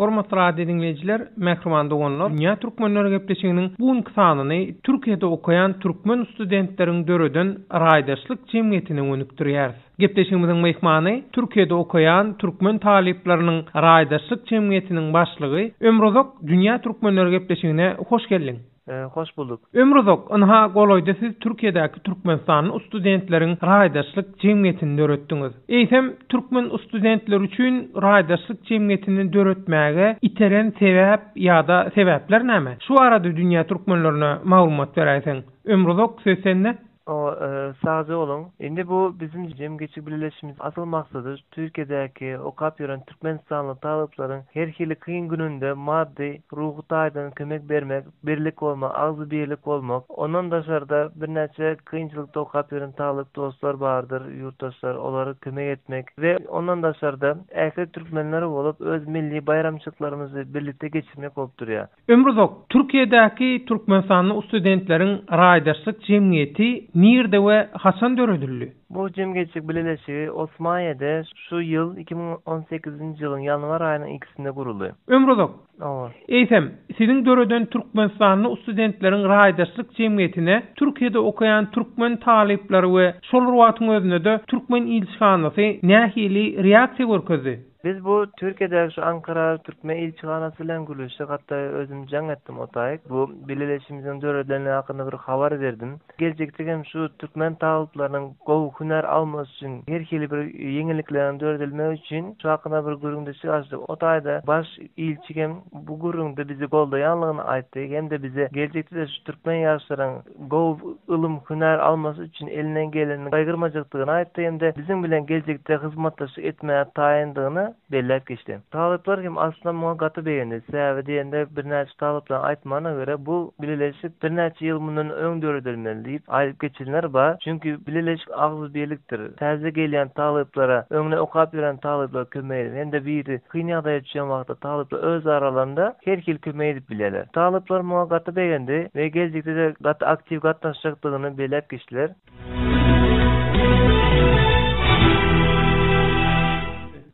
Hormatly radio diňleýjiler, mähriban doganlar, Dünýä Türkmenleri gepleşiginiň bu günki sanyny Türkiýede okaýan türkmen studentleriň döreden raýdaşlyk jemgyýetine gönükdirýäris. Gepleşigimiziň myhmany Türkiýede okaýan türkmen talyplarynyň raýdaşlyk jemgyýetiniň başlygy Ömruzak Dünýä Türkmenleri gepleşigine hoş geldiň! Hoş bulduk. Ömür uzak, ynha golaýda siz Türkiýedäki türkmenistanly studentleriň raýdaşlyk jemgyýetini döretdiňiz. Eýsem, türkmen studentleri üçin raýdaşlyk jemgyýetini döretmäge iteren sebäp ýa-da sebäpler näme? Şu barada dünýä türkmenlerine maglumat beräýseň. Ömür uzak, söz sende. Sagja boluň. Indi bu biziň jemgyýetçilik bileleşigimiziň asyl maksady Türkiýedäki okap ýören türkmenistanly talyplaryň her hili kyn gününde maddy, ruhy taýdan kömek bermek, birlik bolmak, agzybirlik bolmak. Ondan daşarda birnäçe kynçylykda okap ýören talyp dostlar bardyr, ýurtdaşlar, olara kömek etmek we ondan daşarda ähli türkmenler bolup öz milli baýramçylyklarymyzy birlikde geçirmek bolup durýar. Ömri uzak, Türkiýedäki türkmenistanly ustudentleriň raýdaşlyk jemgyýeti nirde we haçan döredildi? Bu jemgyýetçilik bileleşigi Osmaniýede şu ýyl iki müň on sekizinji ýylyň ýanwar aýynyň ikisinde guruldy. Ömri uzak! Oba. Eýsem, siziň döreden türkmenistanly ustudentleriň raýdaşlyk jemgyýetine Türkiýede okaýan türkmen talyplary we şol rwagtyň özünde-de türkmen ilçihanasy nähili reaksiýa görkezdi? Biz bu Türkiýedäki şu Ankara türkmen ilçihanasy bilen gürleşdik hatda özüm jaň etdim otaýk bu bileleşimiziň döredilendigi hakynda bir habar berdim. Geljekde hem şu türkmen talyplarynyň gowy hünär almasy üçin her hili bir ýeňillikleriň döredilmegi üçin şu hakynda bir gürrüňdeşlik açdyk otaýda baş ilçi hem bu gürrüňde bizi goldaýanlygyny aýtdy hem-de bize geljekde-de şu türkmen ýaşlaryň gowy ylym, hünär almasy üçin elinden gelenini gaýgyrmajakdygyny aýtdy hem-de biziň bilen geljekde hyzmatdaşlyk etmäge taýyndygyny belläp geçdi. Talyplar hem aslynda muňa gaty begendi, sebäbi diýende birnäçe talyplaryň aýtmagyna görä, bu bileleşik birnäçe ýyl mundan öň döredilmeli diýip aýdyp geçenler bar, çünki bileleşik agzybirlikdir. Täze gelýän talyplara öňde okap ýören talyplar kömek edip, hem-de biri kyn ýagdaýa düşen wagtda talyplar öz aralarynda her hili kömek edip bilýärler. Talyplar muňa gaty begendi we geljekde-de gaty aktiw gatnaşjakdygyny belläp geçdiler.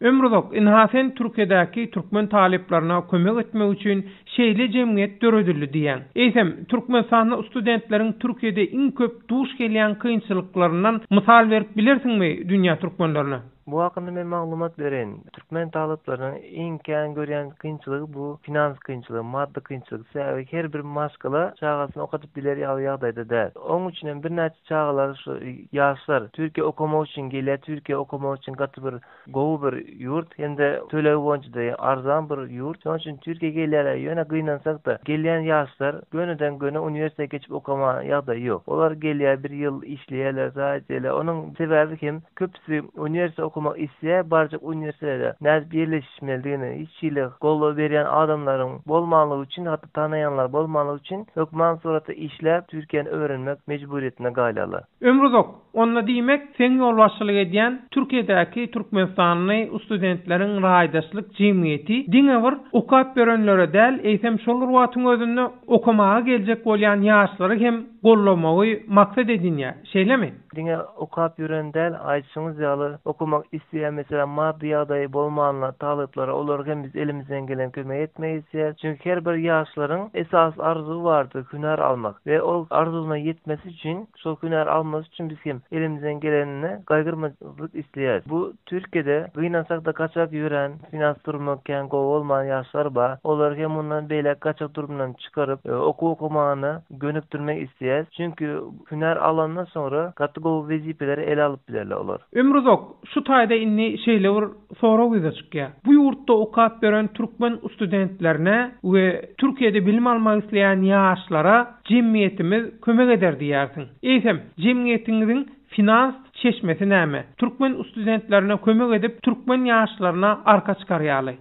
Ömruzak, ynha sen Türkiýedäki türkmen talyplaryna kömek etmek üçin Şeýle jemgyýet döredildi diýýän. Eýsem, Türkmenistanda studentleriň Türkiýede iň köp duş gelýän kynçylyklaryndan mysal berip bilersiňmi dünýä türkmenlerine? Bu hakynda men maglumat bereýin. Türkmen talyplarynyň iň kän görýän kynçylygy bu finans kynçylygy, maddy kynçylyk. Sebäbi her bir maşgala çagasyny okadyp biler ýaly ýagdaýda däl. Oň üçin hem birnäçe çagalar şu ýaşlar Türkiýä okamak üçin gelýär. Türkiýä okamak üçin gaty bir gowy bir ýurt hem-de tölegi boýunça-da arzan bir ýurt. Şonuň üçin Türkiýä gelýärler. Ýöne gynansak-da, gelýän ýaşlar gönüden-göni uniwersitete geçip okamaga ýagdaýy ýok. Olar gelýär, bir ýyl işleýärler, zaýa edýärler. Onuň sebäbi hem, köpüsi uniwersitete okamak isleýär, barjak uniwersitetede nädip ýerleşişmelidigini hiç hili goldaw berýän adamlaryň bolmanlygy üçin, hatda tanaýanlar bolmanlygy üçin, hökman suratda işläp, Türkiýäni öwrenmek mejburyýetine galýarlar. Ömruzak, Onda diýmek, seň ýolbaşçylyk edýän Türkiýedäki türkmenistanly studentleriň raýdaşlyk jemgyýeti diňe bir okap ýörenlere däl, eýsem şol bir wagtyň özünde okamaga geljek bolýan ýaşlary hem gollamagy maksat edinýär, şeýlemi? Diňe okap ýören däl, aýdyşyňyz ýaly, okamak isleýän, meselem, maddy ýagdaýy bolmanlar, talyplara, olara hem biz elimizden gelen kömegi etmek isleýäris. Çünki her bir ýaşlaryň esasy arzuwy bardyr, hünär almak we ol arzuwyna ýetmesi üçin, Şol hünäri almak üçin biz hem elimizden gelenini gaýgyrmajyk isleýäris. Bu Türkiýede gynansak-da gaçak ýörän, finans durmy kän gowy bolman ýaşlar bar. Olary hem mundan beýläk gaçak durmyndan çykaryp, okuw okamagyna gönükdirmek isleýäris. Çünki hünär alandan soňra gaty gowy wezipeleri ele alyp bilerler olar. Ömruzak, şu taýda indi şeýle bir sorag ýüze çykýar. Bu ýurtda okap ýören türkmen ustudentlerine we Türkiýede bilim almak isleýän ýaşlara, Jemgyýetimiz kömek eder diýýärsiň. Eýsem, jemgyýetiňiziň finans çeşmesi näme? Türkmen ustudentlerine kömek edip, türkmen ýaşlaryna arka çykarýaly.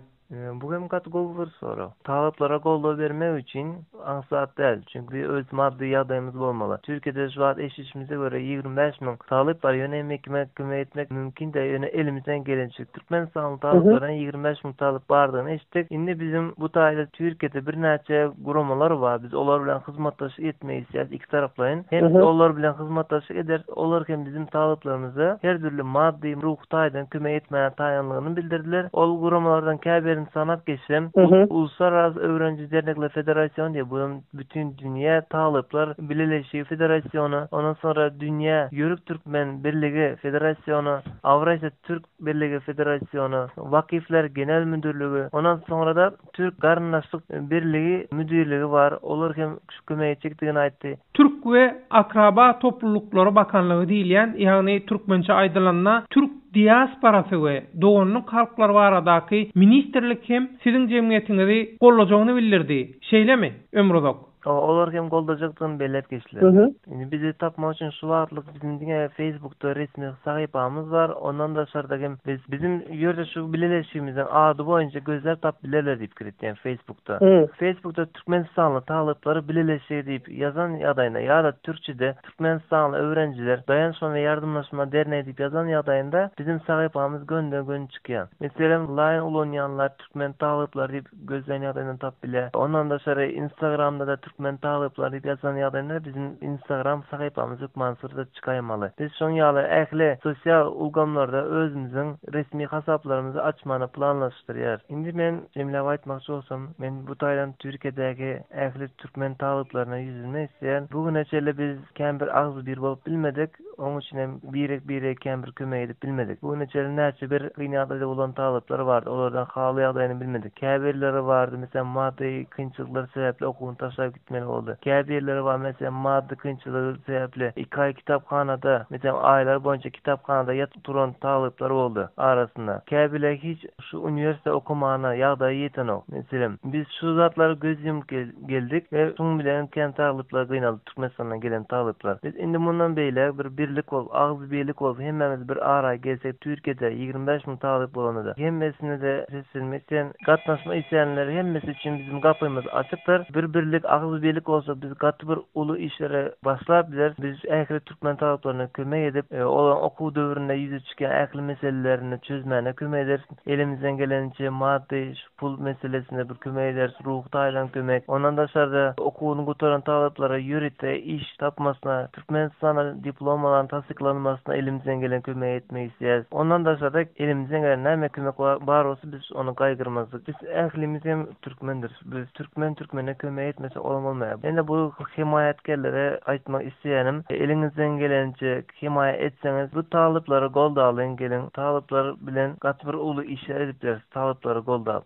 Bu hem gaty gowy bir sorag. Talyplara goldaw bermek üçin aňsat däl, çünki öz maddy ýagdaýymyz bolmaly. Türkiýede şu wagt eşidişimize görä ýigrimi bäş müň talyp bar, ýöne emekime kömek etmek mümkin däl, ýöne elimizden gelençe. Türkmenistanyň talyplarynyň ýigrimi bäş müň talyp bardygyny eşitdik. Indi biziň bu taýda Türkiýede birnäçe guramalar bar. Biz olar bilen hyzmatdaşlyk etmek isleýäris ikitaraplaýyn. Hem biz olar bilen hyzmatdaşlyk ederis, olar hem biziň talyplarymyza her dürli maddy, ruhy taýdan kömek etmäge taýynlygyny bildirdiler. Ol guramalardan käbirini sanap geçsem, Uluslararasy öwreniji dernekler federasiony diýip, bu hem Bütindünýä talyplar bileleşigi federasiony, ondan soňra Dünýä Ýörük türkmen birligi federasiony, Awrasiýa türk Birligi Federasiona Wakifler Genel Müdürligi, ondan soňra-da Türk Garyndaşlyk Birligi Müdirligi bar, olar hem şu kömegi çekdigini aýtdy. Türk we akraba toplulyklary bakanlygy diýilýän, ýagny türkmençe aýdylanda türk diasporasy we doganlyk halklar baradaky ministrlik hem siziň jemgyýetiňizi gollajagyny bildirdi, şeýlemi, Ömruzak? Hawa olar hem goldajakdygyny belläp geçdiler. Indi bizi tapmak üçin şu wagtlyk biziň diňe Facebookda resmi sahypamyz bar, ondan daşarda hem biz biziň ýörde şu bileleşigimiziň ady boýunça gözläp tapyp bilerler diýip kiritýän Facebookda. Facebookda türkmenistanly talyplary bileleşigi diýip ýazan ýagdaýynda ýa-da türkçede Türkmenistanly öwrenijiler daýanşma we ýardamlaşma derneýi diýip ýazan ýagdaýynda biziň sahypamyz gönde-gön çykýar. Meselem, Line ulanýanlar türkmen talyplary diýip gözleýän ýagdaýyndan tapyp bilýär. Ondan daşary Instagramda-da Türkmen talyplary diýip ýazan ýagdaýynda biziň Instagram sahypamyz hökman surata çykaýmaly. Biz şoň ýaly ähli sosial ulgamlarda özümiziň resmi hasaplarymyzy açmany planlaşdyrýarys. Indi men jemläp aýtmakçy bolsam, men bu taýdan Türkiýedäki ähli türkmen talyplaryna ýüz üzmek isleýän. Bu güne çenli biz kän bir agzybir bolup bilmedik. Onuň üçin hem birek-birege kempir kömek edip bilmedik. Bu güne çenli näçe bir kyn ýagdaýda bolan talyplar bardy, olardan haly ýagdaýyny bilmedik. Käbirleri bardy, meselem, maddy kynçylyklar sebäpli okuwyny taşlap gitmeli boldy. Käbirleri bar, meselem, maddy kynçylygy sebäpli iki aý kitaphanada, meselem, aýlar boýunça kitaphanada ýatyp turan talyplar boldy. Arasynda, käbirleri hiç şu uniwersitede okamana ýagdaýy ýetenok. Meselem, biz şu zatlara göz ýumup geldik we şuň bilen hem kän talyplar gynaldy. Türkmenistana gelen talyplar. Biz indi mundan beýläk bir birlik bolup, agzy birlik bolup hemmämiz bir araý gelsek Türkiýede ýigrimi bäş müň talyp bolanda hemmesine-de seslenme isleýän, gatnaşma isleýänler hemmesi üçin biziň gapymyz açykdyr. Bir birlik, agzy birlik bolsak biz gaty bir uly işlere başlap bileris. Biz ähli türkmen talyplaryna kömek edip, olaryň okuw döwründe ýüze çykýan ähli meselelerini çözmäne kömek ederis. Elimizden geleniçe maddy, pul meselesinde bir kömek ederis, ruhy taýdan kömek. Ondan daşarda okuwyny gutaran talaplara ýörite iş tapmasyna, Türkmenistana diplomalaryny tassyklanmasyna elimizden gelen kömegi etmek isleýäris. Ondan daşarda elimizden gelen näme kömek bar bolsa biz ony gaýgyrmazlyk. Biz ählimiz hem türkmendiris. Biz türkmen türkmene kömek etmese olam bolmaýar. Ýene bu hemaýatkerlere aýtmak isleýänim, eliňizden geleniçe Hemaýa etseňiz bu talyplary goldalyň geliň talyplar bilen gaty bir uly işler edip bileris talyplary goldap.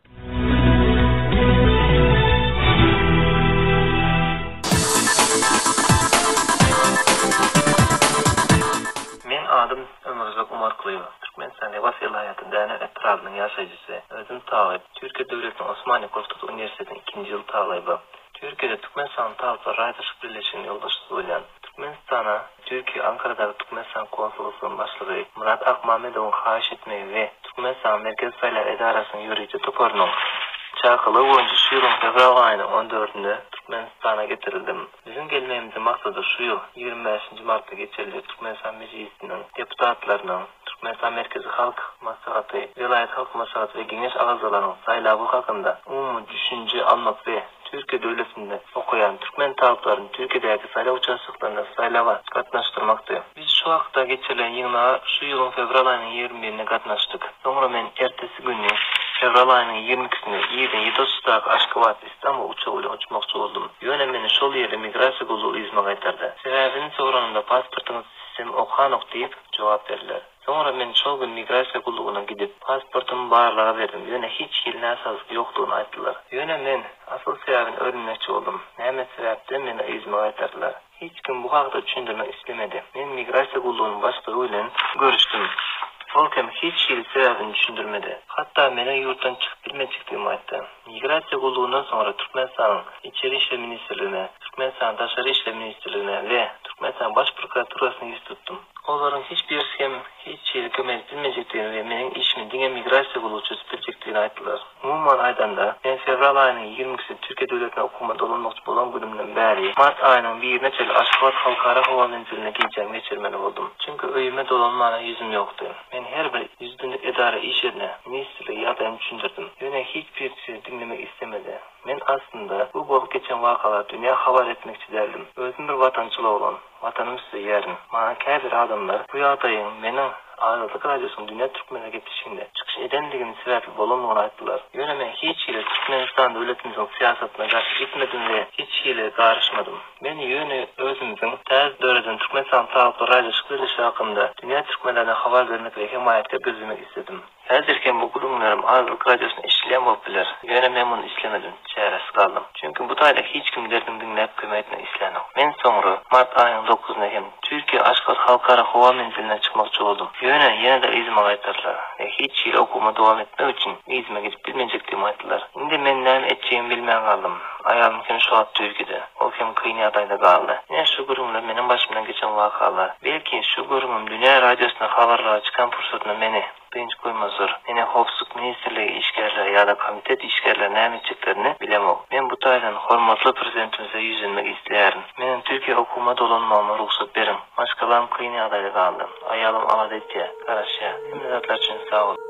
Meň adym Ömürjak Umarklyýew. Türkmenistanyň Lebap welaýaty Däne etrabynyň ýaşaýjysy. Özüm talyp. Türkiýe döwletiniň Osmaniýe Gurtaty uniwersitetiniň ikinji ýyl talyby. Türkiýede Türkmenistanyň Talyplar raýdaşlyk birleşiginiň ýolbaşçysy bolýan. Türkmenistana Türkiýe Ankaradaky Türkmenistan konsullygynyň başlygy Murat Akmamedowyň haýyş etmegi we Türkmenistanyň Merkezi saýlaw edarasynyň ýörite toparynyň çakylygy boýunça şu ýylyň fewral aýynyň on dördünde Türkmenistana getirildim. Biziň gelmegimiziň maksady şu ýyl ýigrimi bäşinji martda geçiriljek Türkmenistan Mejlisiniň deputatlarynyň, Türkmenistan Merkezi Halk Maslahaty, welaýat halk maslahaty we geňeş agzalarynyň saýlawy hakynda umumy düşünje almak we Türkiýe döwletinde okaýan türkmen talyplaryny Türkiýedäki saýlaw uçastoklarynda saýlawa gatnaşdyrmakdy. Biz şu hakda geçirilen ýygnaga şu ýylyň fewral aýynyň ýigrimi birinde gatnaşdyk. Soňra men ertesi güni, fewral aýynyň ýigrimi ikisinde irden ýedi otuzdaky Aşgabat, Istanbul uçagy bilen uçmakçy boldum. Ýöne meni şol ýerli migrasiýa gullugy yzyma gaýtardy. Sebäbini soranymda pasportyňyz, Bizem okanok diýip, jogap berdiler. Soňra men şol gün migrasiýa gullugyna gidip, pasportymy barlaga berdim, ýöne hiç hili näsazlyk ýokdugyny aýtdylar. Ýöne men asyl sebäbini öwrenmekçi boldum, näme sebäpden meni yzyma gaýtardylar? Hiç kim bu hakda düşündirmek islemedi. Men migrasiýa gullugynyň başlygy bilen görüşdim. Ol hem hiç hili sebäbini düşündirmedi. Hatda meniň ýurtdan çykyp bilmejekdigimi aýtdy. Migrasiýa gullugyndan soňra Türkmenistanyň Içeri işler ministrligine, Türkmenistanyň Daşary işler ministrligine we Türkmenistanyň Baş prokuraturasyna ýüz tutdum. Olaryň hiç birisi hem hiç çyzy kömek edip bilmejekdigini we meniň işimi diňe migrasiýa gullugy çözüp biljekdigini aýtdylar. Umuman aýdanda, men fewral aýynyň ýigrimi ikisinde Türkiýe döwletine okuma dolanmakçy bolan günümden bäri, mart aýynyň birine çenli Aşgabat halkara howa menziline gijämi geçirmeli boldum. Çünki öýüme dolanmana ýüzüm ýokdy. Men her bir ýüz günlük edara işine, ministrlige ýagdaýymy düşündirdim. Ýöne hiç birisi diňlemek islemedi. Men aslynda bu bolup geçen wakalary dünýä habar etmekçi däldim. Özüm bir watançyl oglan. Watanymy söýýärin. Maňa käbir adamlar bu ýagdaýyň meniň Azatlyk Radiosynyň Dünýä türkmenleri gepleşiginde çykyş edendigim sebäpli bolandygyny aýtdylar. Ýöne men hiç hili Türkmenistan döwletimiziň syýasatyna garşy gitmedim we hiç hili garyşmadym. Men ýöne özümiziň täze döreden Türkmenistan Sagykly raýdaşlyk birleşigi hakynda dünýä türkmenlerine habar bermek we hemaýatkär gözlemek isledim. Häzir hem bu gürrüňlerim Azlyk Radiosynda eşidilýän bolup biler. Ýöne men muny islemedim, çäresiz galdym. Çünki bu taýda hiç kim derdimi diňläp kömek etmek islänok. Men soňra, mart aýynyň dokuzynda hem Türkiýä Aşgabat Halkara howa menziline çykmakçy boldum. Ýöne ýene-de yzyma gaýtardylar we hiç hili okuwyma dowam etmek üçin yzyma gidip bilmejekdigimi aýtdylar. Indi men näme etjegimi bilmän galdym. Aýalym hem şu wagt düzgüde. Ol hem kyn ýagdaýda galdy. Ine, şu gürrüňler meniň başymdan geçen wakalar. Belki, şu gürrüňim dünýä radiosynda habarlara çykan pursatynda meni dynç goýmazdyr. Ine, howpsuzlyk ministrligi işgärleri ýa-da komitet işgärleri näme etjeklerini bilemok. Men bu taýdan hormatly Prezidentimize ýüzlenmek isleýärin. Meniň Türkiýä okuwyma dolanmagyma rugsat beriň. Maşgalam kyn ýagdaýda galdy. Aýalym alada etýär, garaşýar. Hemme zatlar üçin sag boluň.